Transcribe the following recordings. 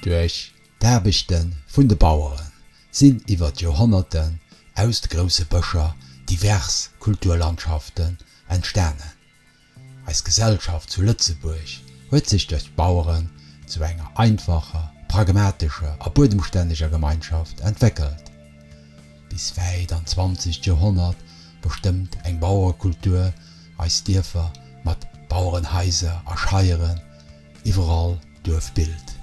Duerch d'Aarbechte vun de Bauere sinn iwwer d'Joerhonnerten aus de grousse Bëscher divers Kulturlandschaften entstanen. Eis Gesellschaft zu Lëtzebuerg huet sech duerch d'Baueren zu enger einfacher, pragmatescher a buedemstänneger Gemeinschaft entwéckelt. Bis wäit an d'zwanzegt Joerhonnert bestëmmt eng Bauerekultur Eis Dierfer mat Bauerenhaiser a Scheieren, iwwerall Duerfbild.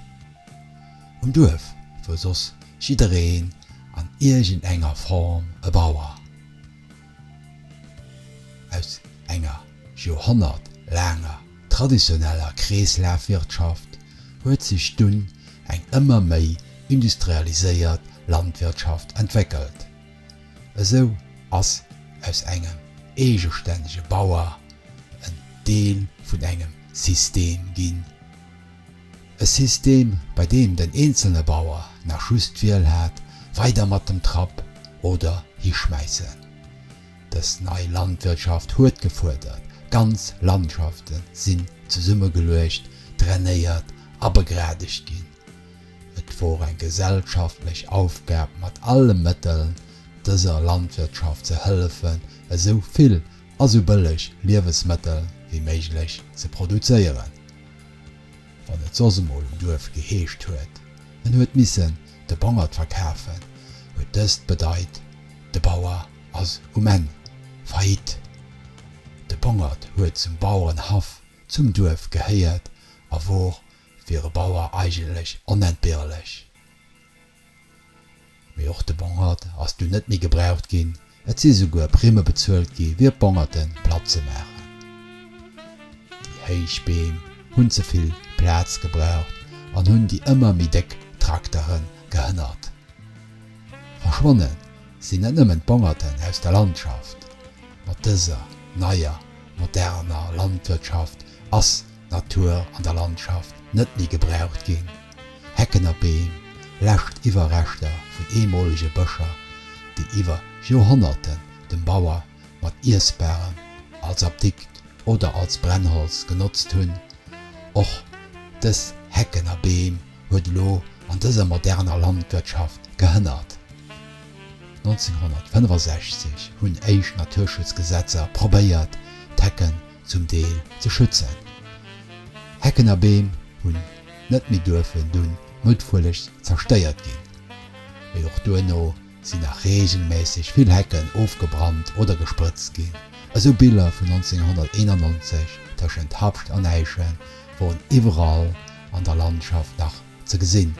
Um Duerf wor soss jiddereen an iergend enger Form e Bauer. Aus enger Joerhonnert laanger traditioneller Kreeslafwirtschaft huet sech dunn eng ëmmer méi industrialiséiert Landwirtschaft entwéckelt. Esou ass aus engem eegestännege Bauer en Deel vun engem System ginn. E System, bei deem den eenzelne Bauer nach just d'Wiel hat, weider mat dem Trapp oder hischmäissen. Dës nei Landwirtschaft huet gefuerdert, ganz Landschaften sinn zesummegeluecht, drainéiert a begradegt ginn. Et wor eng gesellschaftlech Aufgab mat alle Mëtteln dëser Landwirtschaft ze hëllefen esou vill a sou bëlleg Liewesmëttel wéi méiglech ze produzéieren. Wann et soss emol um Duerf geheescht huet, en huet missen de Bongert verkafen, huet dëst bedeit, de Bauer ass um Enn Faillite. De Bongert huet zum Bauerenhaff zum Duerf gehéiert a wor wier e Bauer eigentlech onentbehrlech. Mee och de Bongert ass dunn net méi gebraucht ginn, et si souguer Primme bezuelt gi fir d'Bongerte platt ze maachen. Déi héich Beem hunn ze vill Plaz gebraucht an hunn déi ëmmer méi déck Traktere gehënnert. Verschwonne sinn net nëmmen d'Bongerten aus der Landschaft, mat dëser neier moderner Landwirtschaft ass Natur an der Landschaft net méi gebraucht ginn, Hecken a Beem, lescht Iwwerreschter vun eemolege Bëscher, déi iwwer Joerhonnerten dem Bauer mat Iessbarem, als Apdikt oder als Brennholz genotzt hunn. Och dës Hecken a Beem huet elo an dëser moderner Landwirtschaft gehënnert. 1965 hunn éischt Naturschutzgesetzer probéiert d'Hecken zum Deel ze schützen. Hecken a Beem hunn net méi duerfen dunn muttwuellegst zerstéiert ginn, mee och duerno sinn nach reegelméisseg vill Hecken ofgebrannt oder gesprëtzt ginn. Esou Biller vun 1991 tëschent Habscht an Äischen woren iwwerall an der Landschaft nach ze gesinn.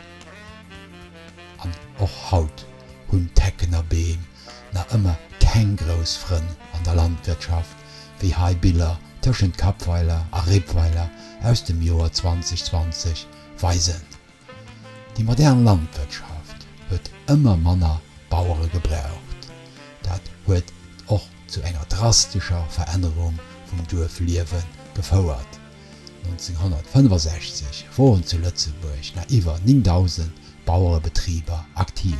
An och haut hunn d'Hecken a Beem nach ëmmer keng grouss Frënn an der Landwirtschaft, wéi hei Biller tëschent Kapweiler a Rippweiler aus dem Joer 2020 weisen. Déi modern Landwirtschaft huet ëmmer manner Bauere gebraucht. Dat huet och zu enger drastescher Verännerung vum Duerfliewe gefouert. 1965 woren zu Lëtzebuerg nach iwwer 9.000 Bauerebetriber aktiv.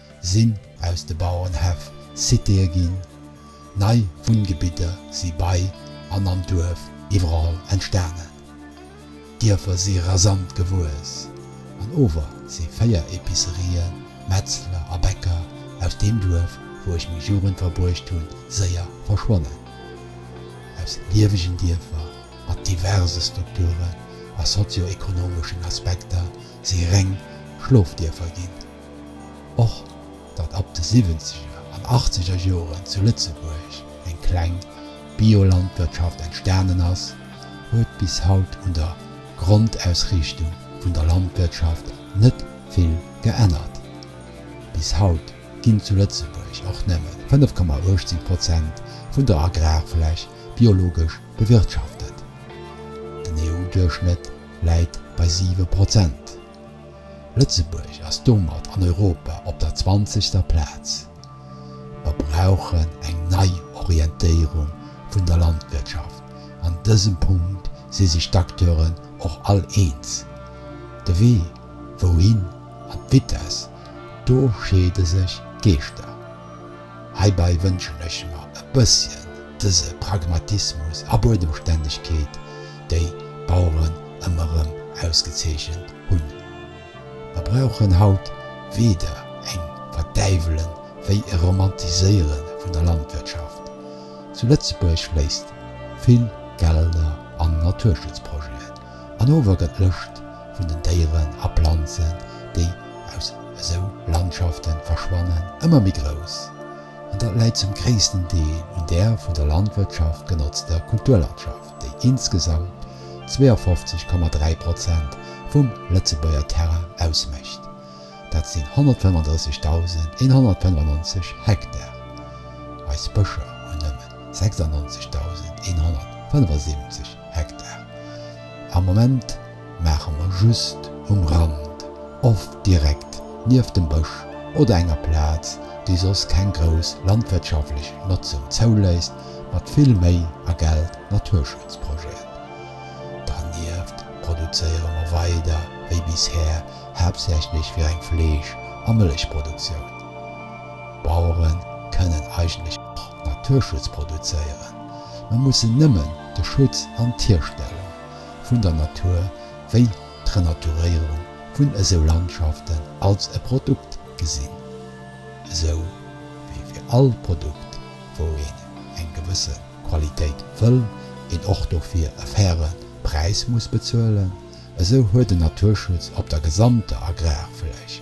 sinn aus de Bauerenhäff Citéë ginn, nei Wunngebidder si bei an am Duerf iwwerall entstanen. D'Dierfer si rasant gewuess an ower si véier Epicerien, Metzler a Bäcker aus deem Duerf, wou ech meng Jugend verbruecht hunn, séier verschwonnen. Aus liewegen Dierfer mat diverse Strukturen a sozio-ekonomeschen Aspekter si reng Schlofdierfer ginn. Och datt ab de siwwenzeger an achtzeger Joren zu Lëtzebuerg eng kleng Biolandwirtschaft entstanen ass, huet bis haut un der Grondausriichtung vun der Landwirtschaft net vill geännert. Bis haut ginn zu Lëtzebuerg och nëmme 5,18 Prozent vun der Agrarfläch biologesch bewirtschaftet. Den EU-Duerchschnëtt läit bei siwe Prozent. Lëtzebuerg ass domat an Europa op der zwanzegster Plaz. Mer brauchen eng Neiorientéierung vun der Landwirtschaft. An dësem Punkt si sech d'Acteuren och all eens. De Wee wouhin an d'Vitesse, do scheede sech d'Geeschter. Heibäi wënschen ech mer e bësschen dëse Pragmatismus a Buedemstännegkeet. déi d'Baueren ëmmer erëm ausgezeechent hunn. Mer brauchen haut weder eng Verdäiwelen wéi e Romantiséiere vun der Landwirtschaft. Zu Lëtzebuerg fléisst vill Gelder an Naturschutzprojeten, an ower gëtt d'Lëscht vun den Déieren a Planzen, déi aus esou Landschafte verschwannen, ëmmer méi grouss. An dat läit zum gréissten Deel un där vun der Landwirtschaft genotzter Kulturlandschaft. déi insgesamt 52,3 Prozent vum Lëtzebuerger Terrain ausmécht, dat sinn 135.195 Hektar. Eis Bëscher hunn nëmmen 96.175 Hektar am Moment. Maache mer just um Rand, oft direkt nieft dem Bësch oder enger Plaz, déi soss keng grouss landwirtschaftlech Notzung zouléisst, mat vill Méi a Geld Naturschutzprojeten. Dernieft produzéiere mer weider wéi bisher haaptsächlech fir eng Fleesch a Mëllechproduktioun. D'Bauere kënnen eigentlech och Naturschutz produzéieren, ma mussen nëmmen de Schutz an d'Hierstellung vun der Natur wéi d'Renaturéierung vun esou Landschaften als e Produkt gesinn, esou wéi fir all Produkt wou een eng gewësse Qualitéit wëll een och dofir e faire Präis muss bezuelen, esou huet den Naturschutz op der gesamter Agrarfläch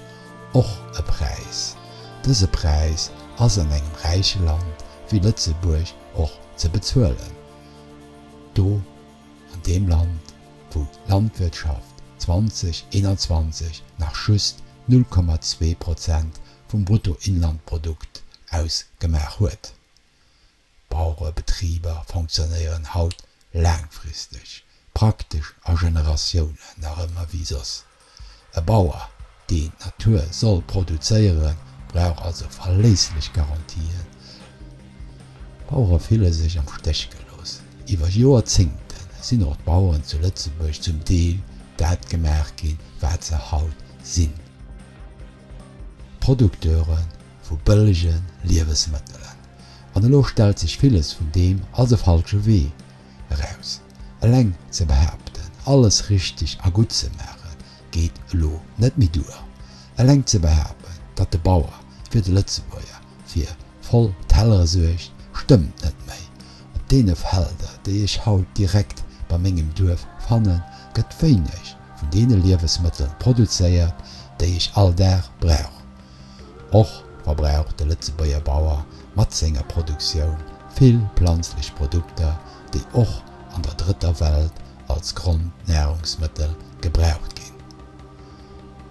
och e Präis. Dëse Präis ass an engem räiche Land wéi Lëtzebuerg och ze bezuelen. Do An deem Land, wou d'Landwirtschaft 2021 nach just 0,2 Prozent vum Bruttoinlandprodukt ausgemaach huet. D'Bauerebetriber fonctionnéieren haut laangfristeg, praktesch a Generatiounen nach ëmmer wéi soss. E Bauer, deen d'Natur soll produzéieren, brauch also verléisslech Garantien. D'Bauere fille sech am Stéch gelooss. Iwwer Joerzéngte sinn och d'Baueren zu Lëtzebuerg zum Deel dat gemaach ginn, wat se haut sinn, Producteure vu bëllege Liewesmëttelen. An elo stellt sech villes vun deem als e falsche Wee eraus. Eleng ze behaapten, alles richteg a gutt ze maache geet elo net méi duer. Eleng ze behaapten, datt de Bauer fir de Lëtzebuerger fir voll Tellere suergt, stëmmt net méi. Op deene Felder, déi ech haut direkt bei mengem Duerf fannen, gëtt wéineg vun deene Liewesmëttel produzéiert, déi ech all Dag brauch. Och wa brauch de Lëtzebuerger Bauer mat senger Produktioun vill planzlech Produkter déi och an der Drëtter Welt als Grondnahrungsmëttel gebraucht ginn.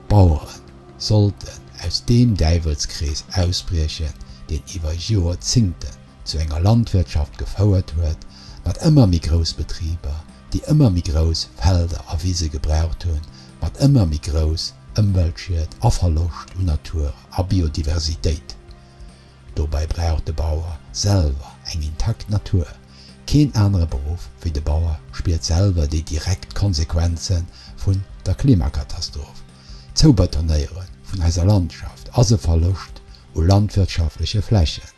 D'Bauere sollten aus deem Däiwelskrees ausbriechen, deen iwwer Jorzingten zu enger Landwirtschaft gefouert huet mat ëmmer méi grouss Betriber, déi ëmmer méi grouss Felder a Wise gebraucht hunn, mat ëmmer méi grouss Ëmweltschied a Verloscht un Natur a Biodiversitéit. Dobäi brauch de Bauer selwer eng intakt Natur. Keen anere Beruff wéi de Bauer spiert selwer déi direkt Konsequenze vun der Klimakatastroph. D'Zoubetonéiere vun eiser Landschaft ass e Verloscht u landwirtschaftleche Flächen.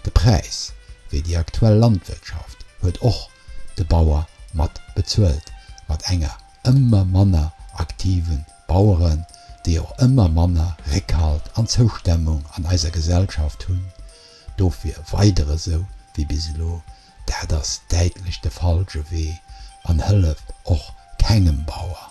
De Präis fir déi aktuell Landwirtschaft huet och de Bauer mat bezuelt, mat enger ëmmer manner aktive. Baueren, déi och ëmmer manner Réckhalt an Zoustemmung an eiser Gesellschaft hunn. Dofir weider esou wéi bis elo, dat ass däitlech de falsche Wee an hëlleft och kengem Bauer.